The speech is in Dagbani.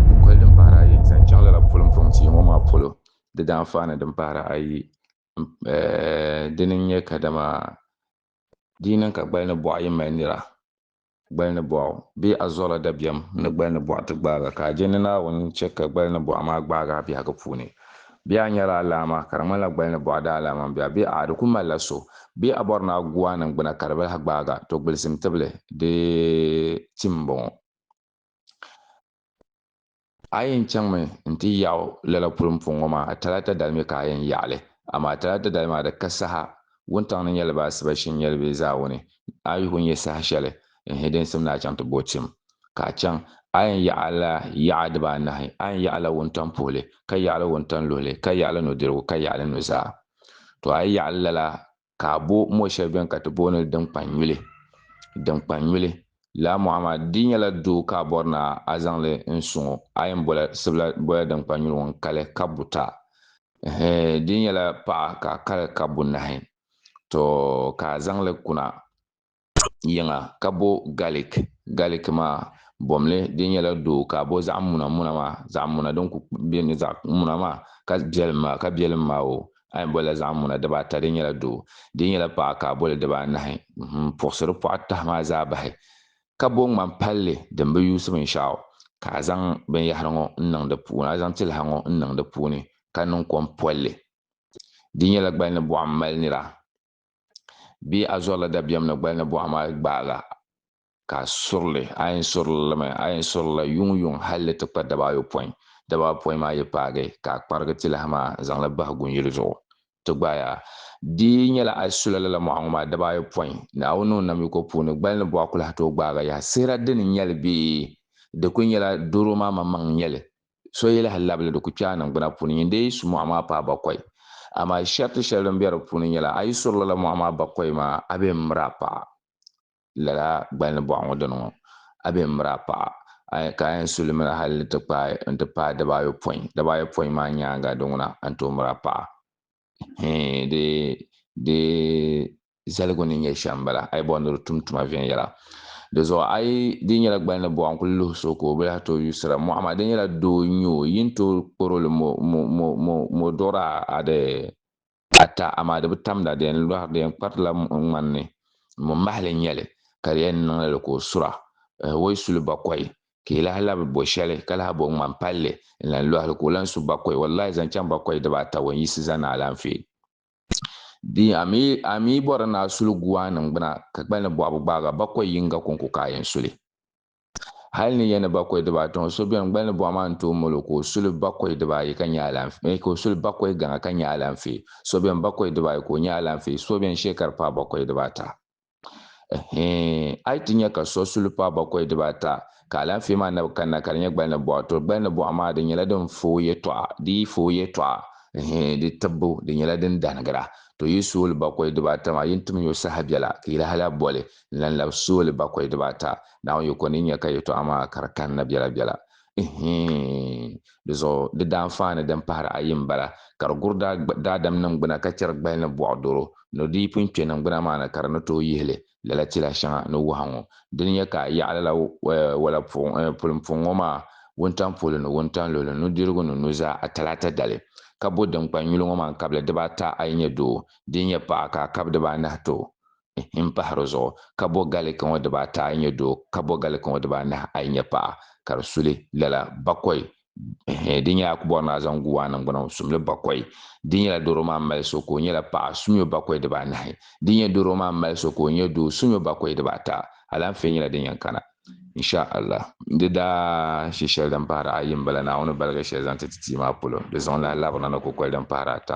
Kukoli din pahiri ayi n zaŋ chaŋ lala pulin puŋ tia ŋɔ maa polo, di daanfaani din pahiri ayi dini n-nyɛ kadama di yi niŋ ka gbali ni bɔɣu yi mali nira, gbali ni bɔɣu bee a zuɣila dabiɛm ni gbali ni bɔɣu ti gbaag a, ka a je ni Naawuni chɛ ka gbali ni bɔɣu maa gbaag a biɛhigu puuni. Bee a nyɛla alaama, ka di ŋmanila gbali ni bɔɣa daalaama m-be a, bee a'a di kul malila so, bee a bɔri ni a gu a niŋgbuna ka di bi lahi gbaag a, to gbilisim tibili di tim m-bɔŋɔ. A yɛn chaŋmi nti yaɣi o lala puli m-puŋ ŋɔ maa, Talaata dali mi ka a yɛn yaɣi li, amaa Talaata dali maa di ka saha Wuntaŋ ni nyɛli ba asiba shim nyɛli bɛ zaa wuni, a yi ku nya saha shɛli n hi din sim ni a chaŋ ti bo tim, ka a chaŋ, a yɛn yaɣila yaɣa dibaanahi, a yɛn yaɣila wuntaŋ puhili, ka yaɣila wuntaŋ luhili, ka yaɣila nudirigu, ka yaɣila nuzaa. Tɔ a yi yaɣili lala, ka a bo mɔ shɛli bɛn ka ti booni li dinkpannyuli. Dinkpannyuli, laa Muhammad, di nyɛla doo ka a bɔri ni a zaŋ li n suŋ o, a yɛn bola sibila bola dinkpannyuli ŋun kali ka buta, Di nyɛla paɣa ka a kari ka bunahi, to ka a zaŋli kuna yiŋa ka bo garlic, garlic maa bomli di nyɛla doo ka a bo zaɣ muna muna maa, zaɣ muna din ku be ni zaɣ muna maa ka biɛlim maa ka biɛlim maa o a yɛn bolila zaɣ muna dibaa ata di nyɛla doo, di nyɛla paɣa ka a boli dibaa anahi, puɣisiri pɔɣu tahi maa zaa bahi ka bo ŋmani palli din bi yuusi binshɛɣu, ka a zaŋ binyahiri ŋɔ n-niŋ di puuni, a zaŋ tiliha ŋɔ n-niŋ di puuni, ka niŋ kom polli. Di nyɛla gbali ni buɣim mali nira, bee a zɔrila dabiɛm ni gbali ni buɣim a yi gbaai la, ka a suri li, a yɛn suri li limi, a yɛn suri li la yuŋyuŋ hal li ti kpa dabaayopɔin, dabaayopɔin maa yi paagi, ka a kparigi tiliha maa zaŋ li bahi gunyili zuɣu, ti gbaaya. Di nyɛla a yi sula lala mɔɣu ŋɔ maa daba ayi pɔi, Naawuni ni o namyiko puuni, gbali ni bɔɣu kulahi tooi gbaaga yaha. Sihira di ni nyɛli bee? Di kuli nyɛla doro maa maŋmaŋ n-nyɛli. So yi lahi labili di ku kpe a niŋgbuna puuni. Nyin dee yi su mɔɣu maa paai bakɔi. Amaa sharti shɛli din be di puuni nyɛla, a yi suri lala mɔɣu maa bakɔi maa, a bee m-miri a paɣa. lala gbalini bɔɣa ŋɔ dini ŋɔ, a bɛ n miri a paɣa, ka a yɛn su li mini hali ni ti kpaai n-ti paai daba ayopɔin, daba ayopɔin maa nyaaŋa di ŋuna a ni tooi miri a paɣa. Hee di di zaligu ni nyɛ shɛm m-bala, a yi bɔri ni di tum tuma viɛnyɛla. Di zuɣu a yi di nyɛla gbalini bɔɣa n-kuli luhi so ka o bi lahi tooi yusira mɔɣu maa, di nyɛla doo n-nyɛ o, yi ni tooi kpɔr o li mo mo mo mo mo duɣiri a a di ata, amaa di bi tamda, di yɛn lɔhiri, di yɛn kpartila muɣi ŋmani ni, mo mahili n-nyɛ li, ka di yɛn niŋla li ka o sura. Ɛhwoi suli bakɔi, ka yi lahi labi bo shɛli, ka lahi bo ŋmani palli n-lan lɔhi li, ka o lan su bakɔi, wallahi zaŋ chaŋ bakɔi diba ata wan yiɣisi zani ni alaanfee. Di a mi, a mi yi bɔri ni a suli guwaa niŋ gbuna, ka gba ni bɔɣibu gbaaga bakɔi yiŋga kɔŋko ka a yɛn suli. Hal ni ya ni bakɔi dibaa tiŋ, so beni gbal ni buɣa maa n-tooi mali o ka o suli bakɔi dibaayi ka nya alaanfee, ka o suli bakɔi gaŋa ka nya alaanfee, so beni bakɔi dibaayi ka o nya alaanfee, so beni shee ka di paai bakɔi dibaata. Ɛhɛɛn, a yi ti nya ka so suli paai bakɔi dibaata, ka alaanfee maa na bi kanna ka di nyɛ gbal ni buɣa, tɔ gbal ni buɣa maa di nyɛla din fa o yɛtɔɣa, di yi fa o yɛtɔɣa, ɛhɛɛn, di tibbu di nyɛla din danigira, tɔ yi suui li bakɔi dibaata maa, yin tim ya o saha biɛla, ka yi lahi lahi boli, n-lan labi sooli bakɔi dibaata, Naawuni yiko ni nya ka yɛtɔɣa maa ka di kanna biɛlabiɛla. Ihhii! Di zuɣu di daanfaani din pahiri ayi m-bala, Ka di guri daadam niŋgbuna ka chɛri gbali ni bɔɣ doro, ni di yi pun kpe niŋgbuna maa ni ka di ni tooi yihi li, lala tila shɛŋa ni wahu ŋɔ di ni nya ka a yaɣi lala wala pulimpuŋ ŋɔ maa wuntaŋ polo ni wuntaŋ luɣili nudirigu ni nuzaa a talaata dali. Ka bo dinkpani nyuli ŋɔ maa n-kabi li dibaata a yi nyɛ doo, di yi nyɛ paɣa ka a kabi dibaanahi ti o. n pahi di zuɣu ka bo gali ka ŋɔ diba ata a yi nyɛ doo ka bo gali ka ŋɔ diba anahi a yi nyɛ paɣa ka di suli lala bakɔi di nyɛla a ku bɔri ni a zaŋ gu o a niŋgbuna o sumli bakɔi di nyɛla doro maa mali so ka o nyɛla paɣa sumyo bakɔi diba anahi di nyɛ doro maa mali so ka o nyɛ doo sumyo bakɔi diba ata alaanfee nyɛla din yɛn kana insha Allah. Di daa shi shɛli din pahiri a yi m-bala Naawuni baligi shɛli zaŋ ti ti tia maa polo di zaŋ lahi labirina ni kukoli din pahiri ata.